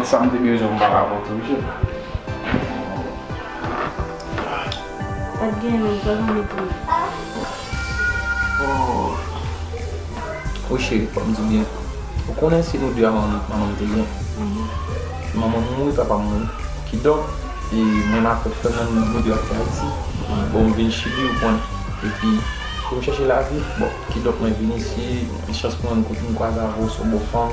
Tout sa m te bezwen m pa ka pran pou jel. Pat gen lè, pa gen lè pou li. Ou cheri fòk m di w byen. Ou konnen se nou 2 a manman m te gen. Se manman m mouri papa m mouri. Kidonk e mwen ak ou fè moun nou 2 a fè Ayiti. Bon m vin chili ou konn. E pi pou m chèche lavi bon kidonk mwen vin isi. Chans pou mwen m kwaze avè w se w bon fanm.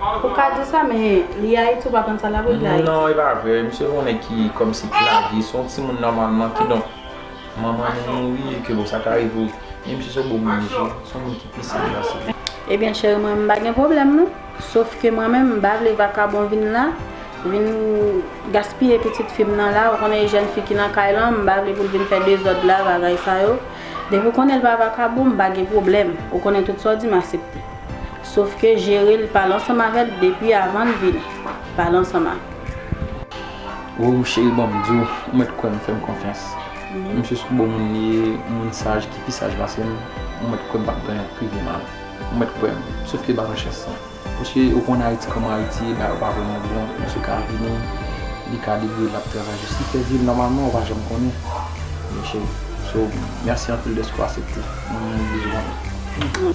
Ou ka di sa men li Haïti ou pa konn sa lap regle Haïti. Non e pa vre misye yon nèg ki kòmsi plage se yon timoun nòmalman kidonk manman li mouri e ke bon sa ka rive wi men misye se yon bon moun mesye se yon moun ki pi saj pase li. Ebyen cheri mwen m pa gen pwoblèm non sof ke mwen menm m pa vle vakabon vin la vin gaspiye pitit fi m nan la ou konnen e jèn fi ki nan kay lan m pa vle pou l vin fè dezòd la bagay sa yo depi w konnen l pa vakabon m pa gen pwoblèm ou konnen tout sa w di m asepte. Sof ke jere l pale ansanm avè l depi avan l vini. Pale ansanm ak. Woww cheri ban m di w, ou mèt kwè m fè m konfyans. Misye sou bon moun li ye, moun saj ki pi saj pase m, ou mèt kwè m p ap bay anyen prive m al. Ou mèt kwè m. Sof ke ba mwen chans lan. Paske ou konn Ayiti kòman Ayiti ye, bagay yo pa vrèman bon. Misye ka vini, li ka debouye l ap travay jis li fè vi l nòmalman, ou pa janm konnen. Wi cheri. So, mèsi anpil dèske w asepte. Mwen bezwen w.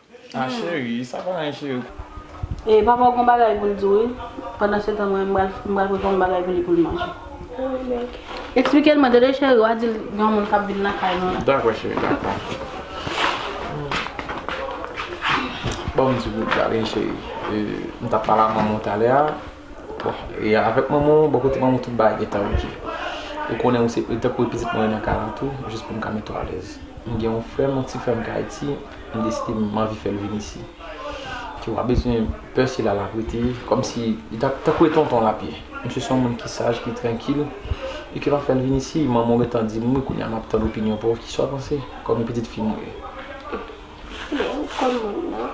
Ah chérie sa pa anyen chérie. E papa w gon bagay pou l di w wi. Pandan se tan mwen menm m pral prepare yon bagay pou li pou l manje. Eksplike l mwen tande cheri wa di l gen yon moun kap vin nan kay nou la. Dakò cheri dakò. Banm ti bout la vini cheri. M tap pale ak manman w talè a. Bon, e avèk manman w, bò kote manman w tout bagay gen tan ok. Ou konnen ou se, ou tankou pitit mwen nan Karan tou, jis pou m ka mete w alèz. M gen yon frè m, yon ti frè m ki Ayiti, m deside m anvi fè l vin isi. Ki w pa bezwen pè se la l ap rete, kòm si li ta, tankou e tonton l ap ye. Misye se yon moun ki saj, ki trankil, e ki pa fè l vin isi. Manman w gen tan di m wi, kounye a m ap tann opinyon pa w, ki sa w panse, kòm pitit fi m ou ye? Bon, ou konn moun nan.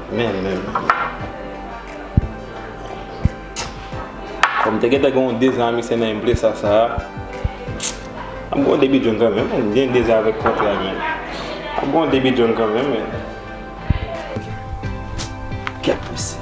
Men men men. Bon m te gentan gen yon dezè a mikse nan enpresa sa a. Ap gen yon debi djòl kanmenm men. M gen dezè avèk kontre a men. Ap gen yon debi djòl kanmenm men. Ok. Kèt pwese.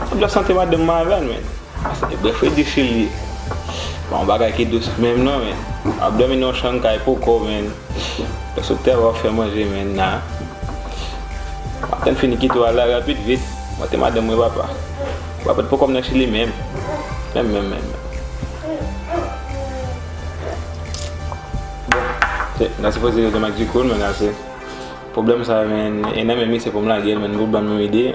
Map la sante madanm mwen avèl men. Ase bref wi difi li ye. Pa yon bagay ki dous menm non men. Wap domi nan yon chanm kay pou kòw men. Lè sou tè wap fè manje men na. Map tann fini kite w al la rapid vit. Mwen te madanm mwen papa. Papa pat poko nan chili menm. Menm menm menm menm. Bon na sipoze rete mak dikoul men ase. Pwoblèm sa men e nan menm li se poum lagel men nou banm yon ide.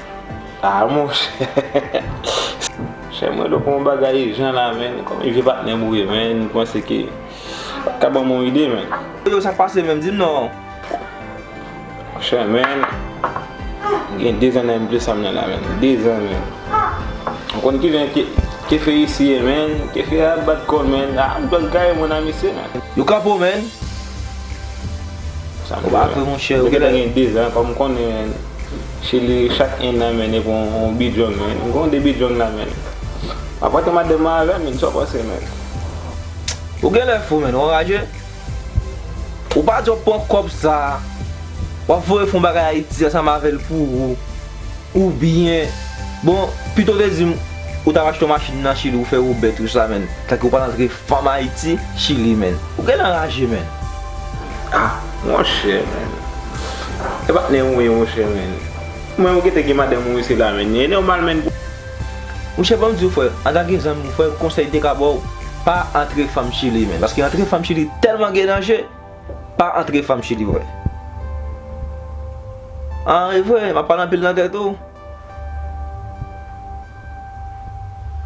Ah monchè. Chè mwen do konw bagay ijan la menn konbyen vye patnè mouye menn ou panse ke wap ka banm yon ide menn. Yo sak pase menm dim non. Monchè menn m gen 2 zan nan mnple sam nan la menn 2 zan menn ou konn ki jan kefe isi ye menn kefe a ap bat kòl menn ah m dwal gaye mwen nan misye menn. Yo kanpe w menn. Ou pa vre monchè. Mwen gentan gen 2 zan konm konnen. Chili chak yn nan men neg on bidjong men gen yon de bidjong la men map rantre madanm mwen avèm men sa w panse men. Ou genlè fou menn ou anraje ou pa di wap pran kòb sa wap voye fon bagay ayiti ansanm avèl pou ou ou byen bon pito w te dim ou tap achte yon machin nan chili ou fè ou bèt ou sa menn tanke ou pral antre. Fanm ayiti chili menn. Ou gen nan raje menn. Ah monchè menn e pa tnen ou ye monchè menn mwen ou gete gen madanm ou isit la menn e nòmal menn pou. Monchè banm diw frè antanke zanmi ou frè konsèy m te ka baw pa antre fanm chili menn paske antre fanm chili tèlman gen danje pa antre fanm chili frè an e vre map pale anpil nan tèt ou.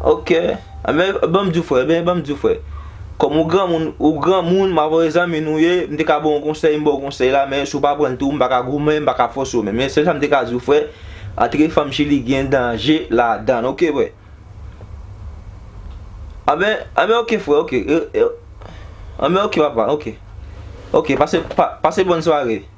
Ok Ebyen banm diw frè Ebyen banm diw frè Kòm ou granmoun ou granmoun ma vòlè zanmi nou ye m te ka baw yon konsèy m baw konsèy la men si w pa prann tou m pa ka goumen m pa ka fòse w men men sèl sa m te ka diw frè antre fanm chili gen danje ladann ok frè Ebyen ebyen ok frè ok Ebyen ok papa ok ok pase pase bòn sware.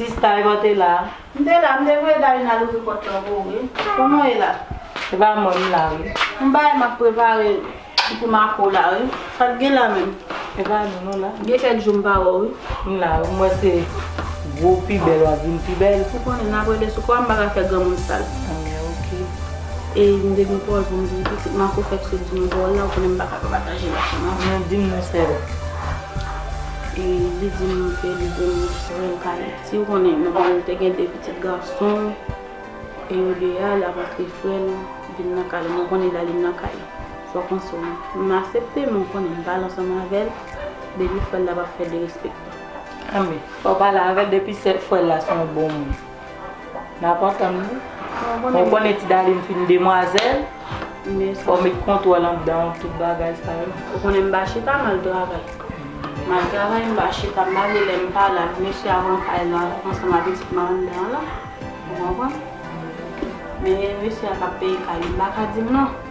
Sista eman te la? M te la, m te voye Dalina louvri pòt lan pou ou wi. Kòman w ye la? Se pa mwen, m la wi. Gon bagay m ap prepare pou Marco la wi. Sa k gen la menm? Se pa nou nou la. Gen kèk jou m pa wè w wi. M la wi, m wè se gwo pi bèl w ap vin pi bèl. Ou konnen n ap rele sou kò a, m pa ka fè granmoun sal. An men ok. E m te gen pawòl pou m di w pitit. Marco fèk sot di m yon pawòl la, ou konnen m pa ka pa pataje l ak ou non. Non, di m non sèl. E li di m ke li vle m voye l kay li. Si w konnen, nan pale l te gen de pitit gason, e yo de a, l ap antre frè l vin nan kay la. Mwen konnen li ale nan kay. Sa w panse w menm? M asepte, men w konnen m pale ansanm avè l, depi frè l la pa fè derespektan. Anben, fò w pale avè l depi se frè l la se yon bon moun. Nan pa tann li. Ou konnen ti Darline fin demwazèl. Fò w met kontwòl anndan w tout bagay sa yo. Ou konnen m pa chita m al travay. M al travay m pa chita m pa vle lè m pa la mesye a pran kay la ansanm ak pitit mwen anndan an la. Ou konprann? Men mesye a k ap peye kay li m pa ka di m non.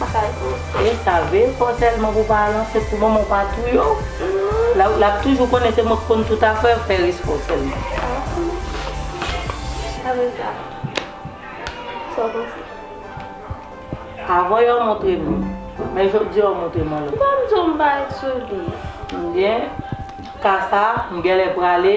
Bagay e save fò sèlman pou pa ranse pou manman w pa touye w l ap toujou konnen se mwen ki konn tout afè yo fè respè w sèlman. Avan yo montre m li men jodi a w montre m lòt. Kòm di w m pa ret sou li. Ebyen ka sa m genlè prale.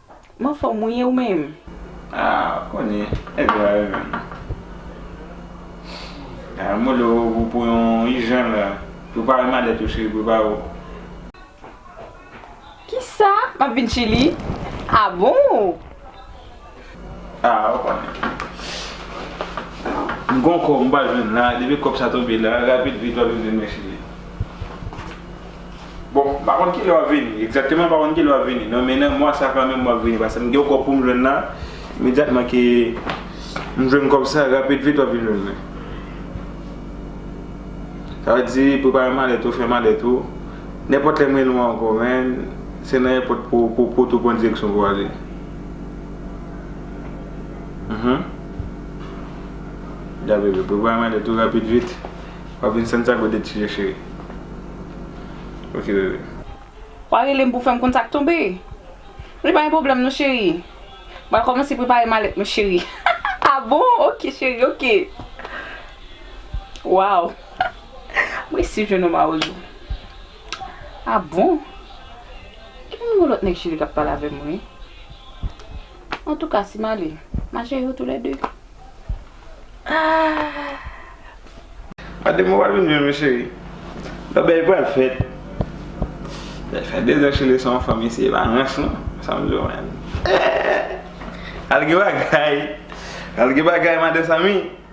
M anfòm wi e ou menm? Ah ou konnen nèg yo a yo menm. Ah m rele w pou yon ijan la. Prepare malèt ou cheri prepare w. Kisa? M ap vin chili? Ah bon! Ah ou konnen. M gon kòb m pral jwenn la depi kòb sa tonbe la rapid vit w ap vin jwenn mwen cheri. Bon m pa konn kilè wap vini egzakteman m pa konn kilè wap vini nan men nan mwa sa kanmenm wap vini paske m gen yon kòb poum jwenn la imedyatman ke m jwenn kòb sa rapid vit wap vin jwenn mwen sa vle di prepare malèt ou fè malèt ou nenpòt lè m rele w ankò men se nan èpòt pou pou tou pran direksyon pou ale ya bebe prepare malèt ou rapid vit. Wap vin Santiago de Chile cheri. Ok bebe. Wa relem pou fèm konn sak tonbe. Li pa gen pwoblèm non cheri. Bal kòmanse prepare malèt mwen cheri. Ah bon ok cheri ok. Waw m resi jwenn ou mawozo. Ah bon. Gen yon lòt nèg chili kap pale avèm wi. Antouka si m ale, m a jere yo tou lè de. Aah! Adem ou pa vin jwenn mwen cheri? Lòbèy pral fèt. Lè fè dezan chile se yon fanm isi e pa rans non. Sa m di w menm. Eeh! Al gen bagay! Al gen bagay madan Samy!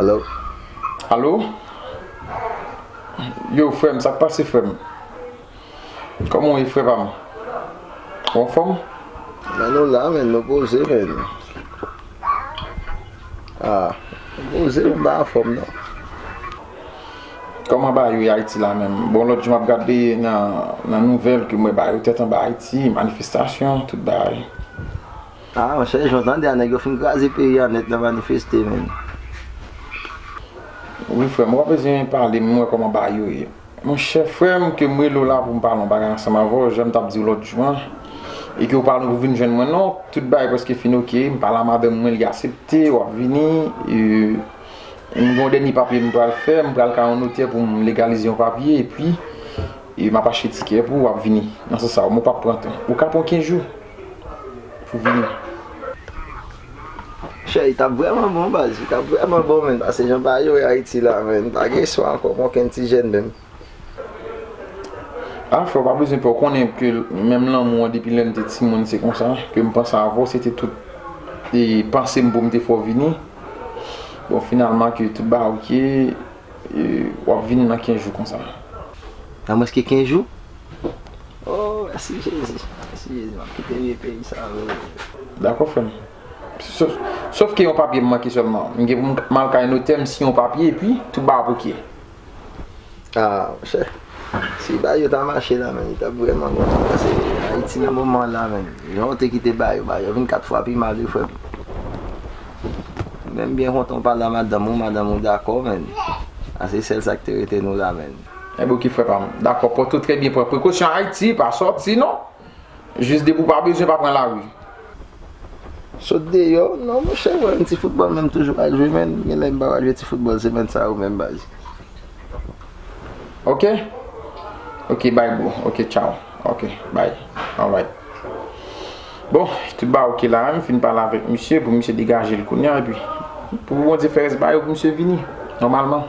Alo Alo Yo frèm sak pase frèm Koman ou ye frè pam Ou anfòm Men nou la men nou poze men Ah Nou poze men m pa anfòm non Koman bayo ye ayiti la menm. Bon lot jou map gade nan nouvel ke m we bayo tet anba ayiti, manifestasyon, tout bagay. Ah monchè jan w tande a nèg yo fin kraze peyi a nèt nan manifeste menn. Wi frem ou pa bezwen pale m we koman bayo ye. Monchè frem ke m rele w la pou m pale yon bagay ansanm avè w janm tap di w lot jou an e ke ou pale pou vin jwenn mwen non tout bagay preske fin ok m pale a madanm mwen li asepte wap vini. M gon dènye papye m pral fè, m pral ka yon notè pou m legalize yon papye epi m ap achte tikè pou w ap vini nan sans sa. Ou pap pran tan. Ou ka pran 15 jou pou w vini. Monchè li tap vrèman bon baz, li tap vrèman bon menn pase jan bagay yo ye Ayiti la menn, pa gen eswa ankò pou okenn ti jèn menm. Ah frè ou pa bezwen pè ou konnen ke menm lanmou an depi lèm te timoun se konsa kem panse avè w se te tout e pansem poum te fè w vini bon finalman ke tout bagay ok e wap vini nan 15 jou konsa. Nan mwens ke 15 jou? Oh mèsi Jezi mèsi Jezi map kite vye peyi sa oo. Dakò frè m sof ke yon papye m manke sèlman m gen pou m al kay notè m siyen yon papye epi tout bagay ap ok. Aah monchè si Bayo ta mache la menn li tap vrèman bon ti pase Ayiti nan moman an la menn jan ou te kite Bayo Bayo vin 4 fwa pi mal wi frèm menm byen kontan ou pale a madanm ou madanm ou dakò menn a se sèl sak te rete nou la menn. Ebyen ok frè pam. Dakò pran tout trè byen pran prekosyon Ayiti pa sòti non Jis depi w pa bezwen pa pran lari. Sot deyò non monchè mwen menm ti foutbòl menm toujou pa jwe menn genlè m pa pral jwe ti foutbòl semèn sa yo menm baz. Ok ok bye bro ok tchaw ok bye alright Bon tout bagay ok la m fin pale avèk misye pou misye degaje l kounya epi pou Bondye fè rès bagay yo pou misye vini nòmalman.